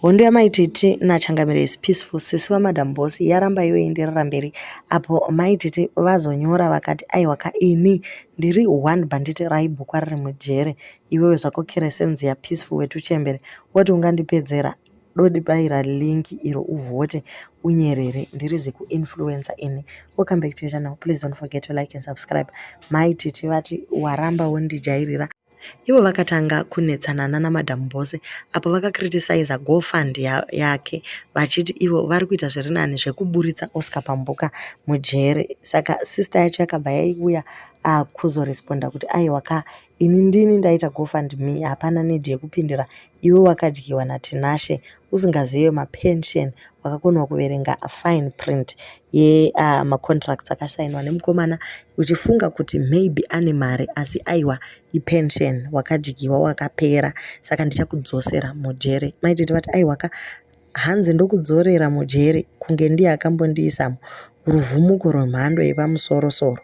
Hondo yamai Titi naChangamire is peaceful. Sisi vamadam boss yaramba yoenderera mberi apo mai Titi vazonyora vakati aiwa ka ini ndiri one banditi raibhukwa riri mujere iwewe zvako keresenzi ya peaceful wetuchembere woti ungandipedzera dodi baira link iro uvhote unyerere ndiri zikuinfluencer ini we'll come back to your channel please don't forget to like and subscribe mai Titi vati waramba wondijairira Ivo vakatanga kunetsana nana madam Bose apo vakakritisaiza go fund yake vachiti ivo vari kuita zviri nani zvekuburitsa Oscar Pambuka mujeri. Saka sister yacho yakabva yaiuya ah, kuzoresponda kuti aiwa ka ini ndini ndaita go fund me hapana need yekupindira Iwe wakadyiwa naTinashe usingazive mapension wakakonewa kuverenga fine print ye uh, macontracts akasainwa nemukomana uchifunga kuti maybe ane mari asi aiwa ipension wakadyiwa wakapera saka ndichakudzosera mujere maitete vati aiwaka Hanzi ndokudzorera mujeri kunge ndiye akambondiisa ruvhumuko rwemhando yepamusorosoro.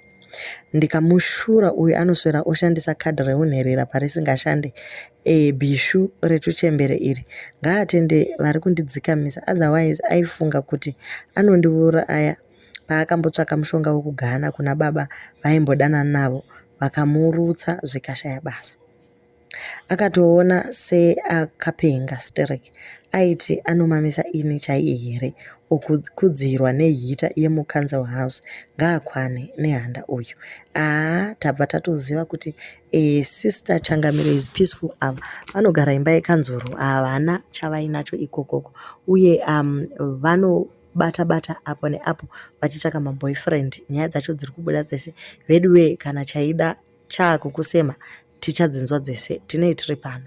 Ndikamushura uyu anoswera oshandisa kadhi reunherera parisingashande. E, bishu retuchembere iri. Ngaatende vari kundidzikamisa otherwise aifunga kuti anondiuraya paakambotsvaka mushonga wekugana kuna baba vaimbodanana navo vakamurutsa zvikashaya basa. akatoona seakapenga sterek aiti anomamisa ini chaiye here okukudzirwa nehita yemucouncil house ngaakwane nehanda uyu aa tabva tatoziva kuti eh, sister changamiro is peaceful ava vanogara imba yekanzuru havana chavainacho ikokoko uye um, vano bata bata apo neapo vachitsvaka maboyfriend nyaya dzacho dziri kubuda dzese veduwe kana chaida chaakukusema Tichadzinzwa dzese tinei tiri pano.